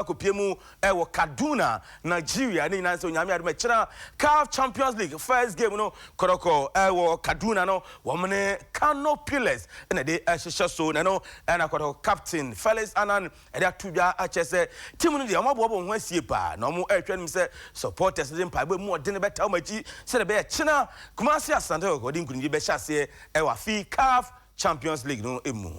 akɔpue mu wɔ Kaduna, Nigeria. Ne nyinaa sɛ Onyame adom ɛkyena CAF Champions League first game no kɔrɔkɔ wɔ Kaduna no wɔn ne Kano Pillars na ɛde hyehyɛ so na ɛno na kɔrɔ captain Felix Annan ɛde ato dwa akyɛ sɛ team no deɛ wɔn aboa wɔn ho asie paa na wɔn ɛrehwɛ no sɛ supporters de mpaebɔ mu ɔde no bɛta wɔn akyi sɛdeɛ ɛbɛyɛ kyena Kumasi Asante Kɔkɔ de nkunimdie bɛhyɛ aseɛ wɔ afi CAF Champions League no mu.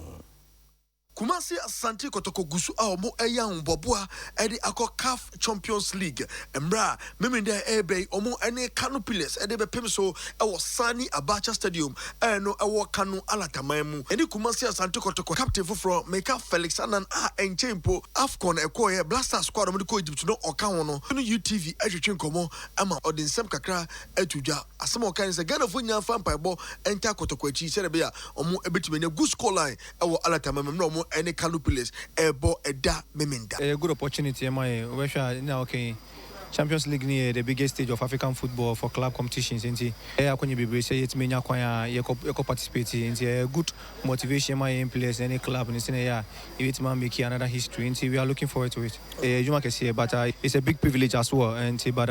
Kumasi Asante Kotoko gu so a wɔreyɛ ahoboaboa de akɔ Caf Champions League mmerɛ a Memeneda a ɛrebɛ yi wɔn ne Kano Pillars de bɛpem so wɔ Sani Abacha Stadium a ɛno wɔ Kano Alataman mu. Yɛne Kumasi Asante Kotoko captain foforɔ Meka Felix Annan a ɛnkyɛe mpo Afcon a ɛkɔeɛ Black Stars squad a wɔde kɔ Egypt no ɔka ho no ne UTV retwetwe nkɔmmɔ ma ɔde nsɛm kakra too dwa. Asɛm a ɔkae ne sɛ Ghanafoɔ nyinaa mfa mpaebɔ ntaa Kotoko akyi sɛdeɛ ɛbɛyɛ a wɔbɛtumi anya good score line Ɛwɔ alata ma me mmerɛ ɔmo ɛne Kano Pillars ɛɛbɔ ɛda Memenda. Ɛyɛ good opportunity ɛma yɛn, wobɛhwɛ a nna ɔka yi Champions League no yɛ the biggest stage of African football for club competitions nti ɛyɛ akwanya bebree sɛ yɛtumi nya kwan a yɛkɔ yɛkɔ participate nti ɛyɛ good motivation ma yɛn players no ɛne club no sɛnea ɛyɛ a yɛbɛtumi a make another history nti we are looking forward to it ɛyɛ adwuma kɛseɛ but it's a big privilege as well nti but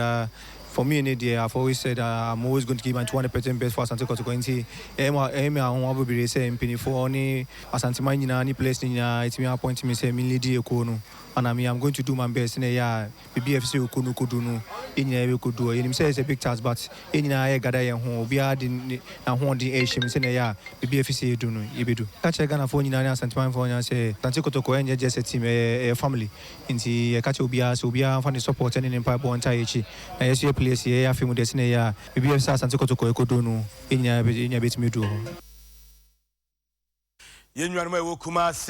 For me ne deɛ, I've always said that I'm always going to give my two hundred percent best for Asante Kotoko nti ɛyɛ me ɛyɛ me ahonwa bebree sɛ mpaninfoɔ ne Asanteman nyinaa ne players no nyinaa atumi appoint me sɛ menlidi ekuo no ana me I'm going to do my best sɛnea ɛyɛ a baabi a ɛfɛ sɛ ekuo no kɔdu no yɛn nyinaa yɛbɛkɔdu hɔ yɛnim sɛ ɛyɛ sɛ big task but yɛn nyinaa yɛregada yɛn ho obiara de ne n'ahoɔden ɛrehyɛ mu sɛnea ɛyɛ a baabi a ɛfɛ sɛ yɛdu no yɛbɛdu ka kyerɛ Ghanafoɔ nyinaa ne Asantemanfoɔ nyinaa sɛ Asante Kotoko ɛnyɛ just a team ɛyɛ ɛyɛ family Ntsi yɛka kyerɛ obiara sɛ obiara mfa ne sɔpɔɔtɛ nye ne mpaabɔ ntaa yɛkyi na yɛso yɛpele yɛse yɛyɛ afe mu dɛ sene yɛ a biribi a sɛ Asante Kɔtɔkɔ ɛkɔduru no yɛnyinaa yɛnyinaa bɛtumi aduru hɔ. Yɛn nuanom a ɛwɔ Kumasi.